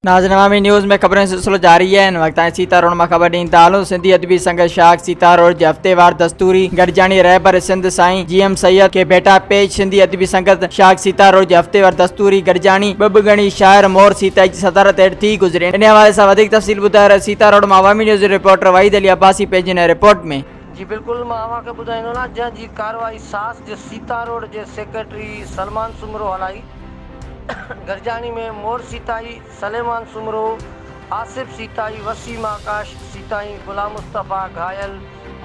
ناظرين عوامي نيوز ۾ خبرن جو سلسلو جاري آهي هن وقت تائين سيتا روڊ مان خبر ڏيندا هلون سنڌي ادبي سنگت شاخ سيتا روڊ جي هفتيوار دستوري گڏجاڻي رهبر سنڌ سائين جي ايم سيد کي ڀيٽا پيش سنڌي ادبي سنگت شاخ سيتا روڊ جي هفتيوار دستوري گڏجاڻي ٻه ٻه ڳڻي شاعر مور سيتائي جي صدارت هيٺ ٿي گذري انهي حوالي سان وڌيڪ تفصيل ٻڌائي رهيو سيتا روڊ مان عوامي نيوز جي رپورٽر وحيد علي عباسي پنهنجي نئين رپورٽ ۾ جي بلڪل مان اوهان کي ٻڌائيندو نه جنهن جي ڪارروائي ساس جي سيتا روڊ جي سيڪريٽري سلمان سومرو هلائي گرجاڻي ۾ مور سيتائي سليمان سومرو آصف سيتائي وسيم آڪاش سيتائي غلام مصطفيٰ گهايل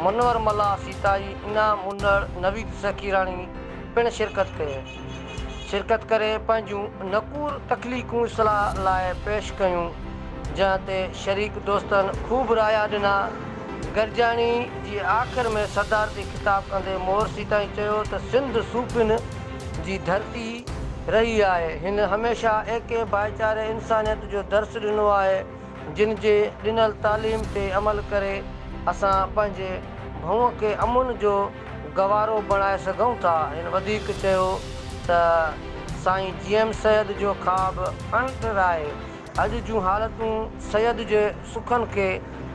منور ملاح سيتائي انعام منڙ نويد سخيراڻي پڻ شرڪت ڪئي. شرڪت ڪري پنهنجون نڪور تخليقون اصلاح لاء پيش ڪيون، جنهن تي شريڪ دوستن خوب رايا ڏنا. گڏجاڻي جي آخر ۾ صدارتي خطاب ڪندي مورثي تائين چيو ته سنڌ صوفين جي ڌرتي رهي آهي، هن هميشه ايڪي، ڀائيچاري، انسانيت جو درس ڏنو آهي، جن جي ڏنل تعليم تي عمل ڪري اسان پنهنجي ڀونء کي امن جو. گوارو بڻائي سگهون ٿا. هن وڌيڪ چيو ته سائين جي ايم سيد جو خواب اڻٽر آهي، اڄ جون حالتون سيد جي سخن کي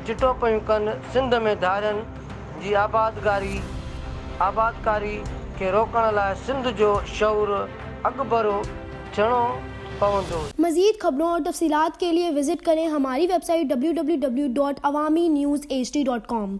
چٽو پيون ڪن، سنڌ ۾ ڌارين جي آبادگاري، آبادڪاري، کي روڪڻ لاء سنڌ جو شعور اڳڀرو ٿيڻو پوندو. مزيد خبرون اور تفصيلات کے ليے وزٽ ڪرين ھماري ويب سائيٽ www.awaminews hd.com.